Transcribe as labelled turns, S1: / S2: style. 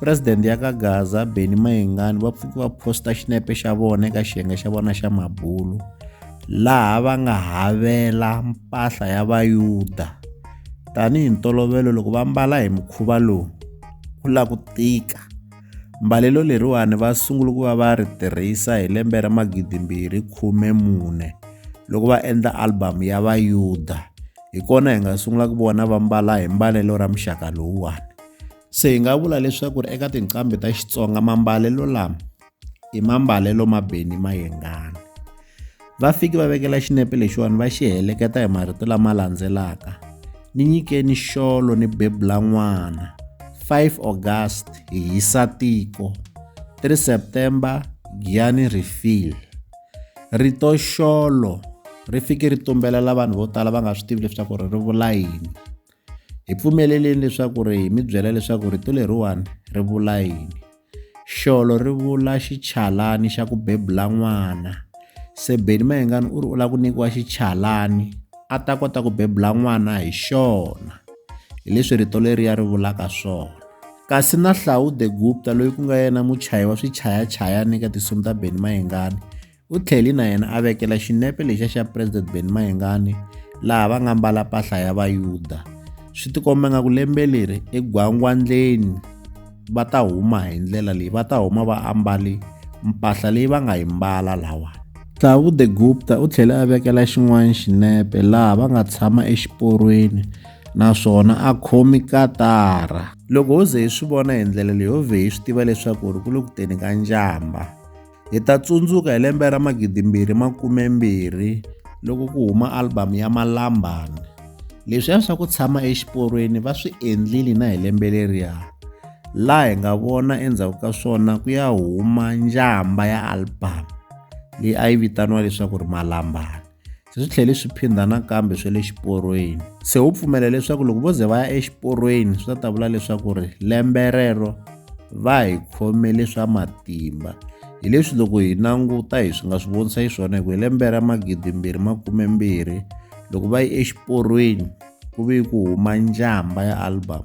S1: Presidente ya ka Gaza, Benny Mayengani va pfuke va posta xinepe xa vona eka xiyenge xa vona xa mabulo laha va nga havela mpahla ya Vayuda. Tanihi ntolovelo loko va mbala hi mukhuva lowu ku la ku tika. Mbalelo leriwani va sungule ku va va ri tirhisa hi lembe ra magidimbirhi khume mune loko va endla album ya Vayuda. Hi kona hi nga sungula ku vona va mbala hi mbalelo ra muxaka lowuwani. Se hi nga vula leswaku ri eka tinqambi ta Xitsonga mambalelo lama i mambalelo ma Benny Mayengani. Va fiki va vekela xinepe lexiwani va xi heleketa hi marito lama landzelaka ni nyikeni xolo ni bebula n'wana 5 August hi hisa tiko 3 September giyani refill rito xolo ri fike ri tumbelela vanhu vo tala va nga swi tivi leswaku ri ri vula yini Hi pfumeleleni leswaku ri hi mi byela leswaku rito leriwani ri vula yini. Xolo ri vula xichalani xa ku bebula n'wana. Se Benny Mayengani u ri u lava ku nyikiwa xichalani a ta kota ku bebula n'wana hi xona. Hi leswi rito leriya ri vulaka swona. Kasi na Hlaude Gupta loyi ku nga yena muchayi wa swichayachayani eka tinsimu ta Benny Mayengani U tlhele na yena a vekela xinepe lexiya xa President Benny Mayengani laha va nga mbala mpahla ya Vayuda. Swi tikomba nga ku lembe leri egwangwandleni va ta huma hi ndlela leyi va ta huma va ambale mpahla leyi va nga yi mbala lawa. Thabu de Gupta u tlhele a vekela xin'wana xinepe laha va nga tshama exiporweni naswona a khomi katara. Loko ho ze hi swi vona hi ndlela leyi ho vhe hi swi tiva leswaku ri ku le ku teni ka njhamba. Hi ta tsundzuka hi lembe ra magidimbirhi makumembirhi loko ku huma album ya Malambani. Leswiya swa ku tshama exiporweni va swi endlile na hi lembe leriya, laha hi nga vona endzhaku ka swona ku ya huma njhamba ya album leyi a yi vitaniwa leswaku ri Malambani. se swi tlhele swi phindha nakambe swe le xiporweni se wu pfumela leswaku loko vo ze va ya exiporweni swi ta ta vula leswaku ri lembe rero va hi khomele swa matimba hi leswi loko hi languta hi swi nga swi vonisa hi swona hi ku hi lembe ra magidi mbirhi makume mbirhi loko va yi exiporweni ku ve ku huma njhamba ya album